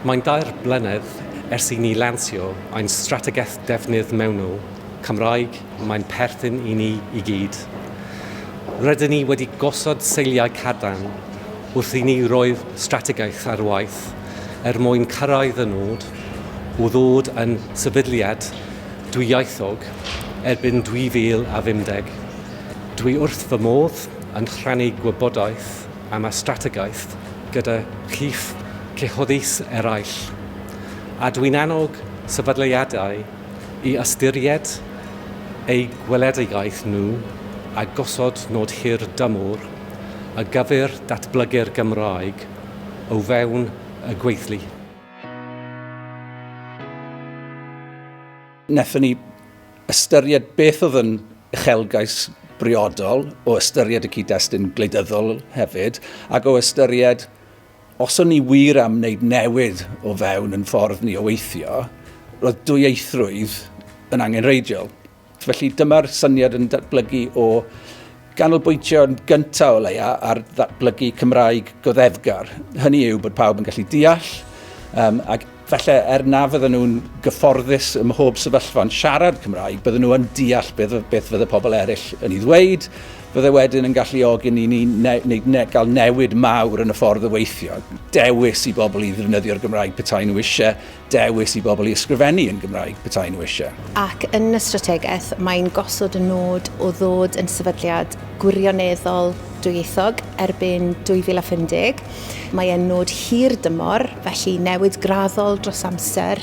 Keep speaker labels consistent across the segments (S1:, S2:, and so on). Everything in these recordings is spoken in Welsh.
S1: Mae'n dair blynedd ers i ni lansio ein strategaeth defnydd mewnol Cymraeg, mae'n perthyn i ni i gyd. Rydyn ni wedi gosod seiliau cadarn wrth i ni roi'r strategaeth ar waith er mwyn cyrraedd y nod o ddod yn sefydliad dwyieithog erbyn 2050. Dwi wrth fy modd yn rhannu gwybodaeth am y strategaeth gyda chi'ch cyhoeddus eraill, a dwi'n annog sefydliadau i ystyried eu gweledigaeth nhw a gosod nod hir dymor ar gyfer datblygu'r Gymraeg o fewn y gweithlu. Wnaethon
S2: ni ystyried beth oedd yn uchelgais briodol o ystyried y cyd-destun gwleidyddol hefyd, ac o ystyried os o'n ni wir am wneud newid o fewn yn ffordd ni o weithio, roedd dwyieithrwydd yn angenrheidiol. Felly dyma'r syniad yn datblygu o ganolbwyntio yn gyntaf o leia ar ddatblygu Cymraeg goddefgar. Hynny yw bod pawb yn gallu deall um, ac Falle er na fydden nhw'n gyfforddus ym mhob sefyllfa yn siarad Cymraeg, bydden nhw yn deall beth, beth fydde pobl eraill yn ei ddweud, fydde wedyn yn galluogi ni ni ne, ne, ne, gael newid mawr yn y ffordd o weithio. Dewis i bobl i ddefnyddio'r Gymraeg petai nhw eisiau, dewis i bobl i ysgrifennu yn Gymraeg petai nhw eisiau. Ac yn y
S3: strategaeth, mae'n gosod y nod o ddod yn sefydliad gwirioneddol dwyieithog erbyn 2050, Mae e'n nod hir dymor, felly newid graddol dros amser,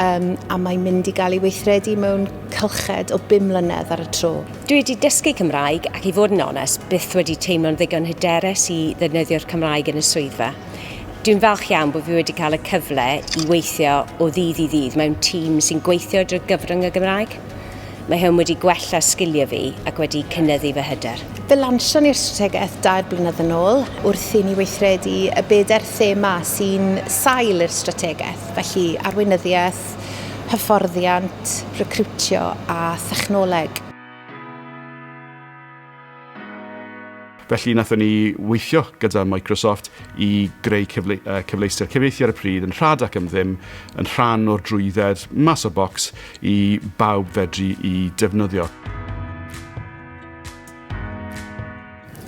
S3: um, a mae'n mynd i gael ei weithredu mewn cylched o bum mlynedd ar y tro. Dwi wedi dysgu
S4: Cymraeg ac i fod yn onest, byth wedi teimlo'n ddigon hyderus i ddefnyddio'r Cymraeg yn y swyddfa. Dwi'n falch iawn bod fi wedi cael y cyfle i weithio o ddydd i ddydd mewn tîm sy'n gweithio drwy gyfrwng y Gymraeg. Mae hwn wedi gwella sgiliau fi ac wedi cynyddu fy hyder. Fe lansion ni'r
S3: strategaeth dair blynedd yn ôl wrth i ni weithredu y bedair thema sy'n sail i'r strategaeth, felly arweinyddiaeth, hyfforddiant, recriwtio a thechnoleg.
S5: Felly nathon ni weithio gyda Microsoft i greu cyfle, uh, cyfleuster cyfieithu ar y pryd yn rhad ac yn ddim, yn rhan o'r drwydded mas o bocs i bawb fedru i defnyddio.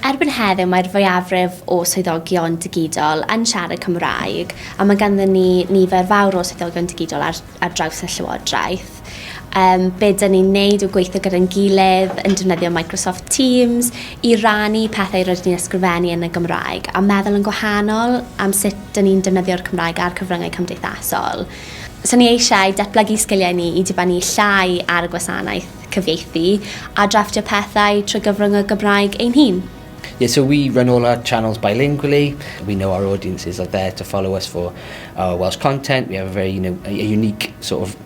S6: Erbyn heddiw mae'r fwyafrif o swyddogion digidol yn siarad Cymraeg a mae ganddyn ni nifer fawr o swyddogion digidol ar, ar draws y Llywodraeth. gwaith, yym be 'dan ni'n neud yw gweithio gyda'n gilydd yn defnyddio Microsoft Teams i rannu pethau rydyn ni'n ysgrifennu yn y Gymraeg a meddwl yn gwahanol am sut 'dan ni'n defnyddio'r Cymraeg a'r cyfryngau cymdeithasol. So ni eisiau datblygu sgiliau ni i dibynnu llai ar y gwasanaeth cyfieithu a drafftio pethau trwy gyfrwng y Gymraeg ein hun. Yeah, so we
S7: run all our channels bilingually. We know our audiences are there to follow us for our Welsh content. We have a very, you know, a unique sort of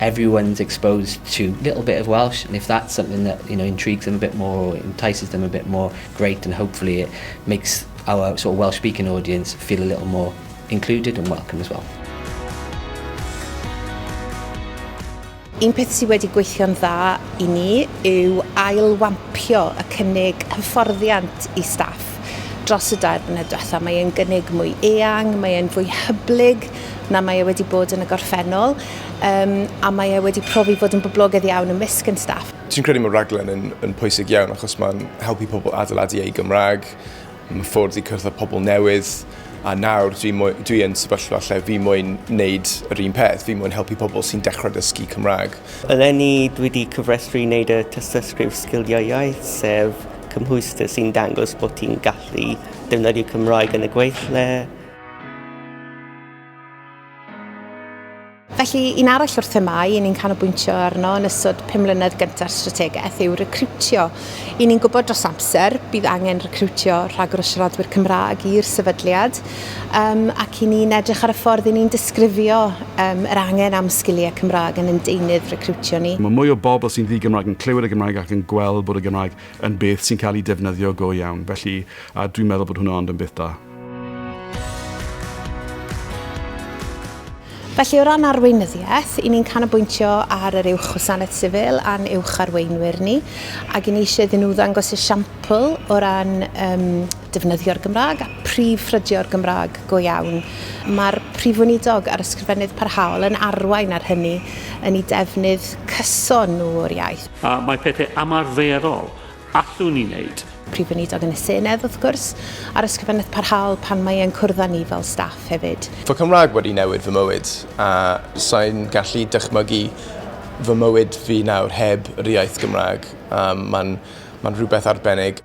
S7: everyone's exposed to little bit of Welsh and if that's something that you know intrigues them a bit more or entices them a bit more great and hopefully it makes our sort of Welsh speaking audience feel a little more included and welcome as well.
S3: Un peth sydd wedi gweithio'n dda i ni yw ailwampio y cynnig hyfforddiant i staff dros y dair blynedd diwetha. Mae e'n gynnig mwy eang, mae e'n fwy hyblyg na mae e wedi bod yn y gorffennol. um, a mae e wedi profi fod yn boblogaidd iawn ymysg yn staff. Ti'n credu mae raglen yn,
S8: yn pwysig iawn achos mae'n helpu pobl adeiladu eu Gymraeg, mae ffwrdd i cyrraedd pobl newydd, a nawr dwi, mwy, dwi yn sefyllfa lle fi mwyn wneud yr un peth, fi mwyn helpu pobl sy'n dechrau dysgu Cymraeg. Eleni dwi wedi
S9: cyfrestru i wneud y tystysgrif sgiliau iaith, sef cymhwyster sy'n dangos bod ti'n gallu defnyddio Cymraeg yn y gweithle, Felly,
S3: un arall o'r themau i ni'n canolbwyntio arno yn ystod pum mlynedd gyntaf strategaeth yw recriwtio. I ni'n gwybod dros amser bydd angen recriwtio rhagor o siaradwyr Cymraeg i'r sefydliad um, ac i ni'n edrych ar y ffordd i ni'n disgrifio um, yr angen am sgiliau Cymraeg yn ein deunydd recriwtio ni. Mae mwy o bobl sy'n
S5: ddi-Gymraeg yn clywed y Gymraeg ac yn gweld bod y Gymraeg yn beth sy'n cael ei defnyddio go iawn, felly a dwi'n meddwl bod hwnna ond yn beth da.
S3: Felly o ran arweinyddiaeth, i ni'n canolbwyntio ar yr Uwch Wasanaeth Sifil a'n Uwch Arweinwyr ni, ac i ni eisiau iddyn nhw ddangos esiampl o ran um, defnyddio'r Gymraeg a prif ffrydio'r Gymraeg go iawn. Mae'r Prif Weinidog a'r Ysgrifennydd Parhaol yn arwain ar hynny yn ei defnydd cyson nhw o'r iaith. A mae pethau
S10: ymarferol Allwn ni wneud. Prif Weinidog yn y
S3: Senedd, wrth gwrs, a'r Ysgrifennydd Parhaol pan mae e'n cwrdd â ni fel staff hefyd. Fy Cymraeg wedi newid
S8: fy mywyd, a sai'n gallu dychmygu fy mywyd fi nawr heb yr iaith Gymraeg. Um, mae'n ma rhywbeth arbennig.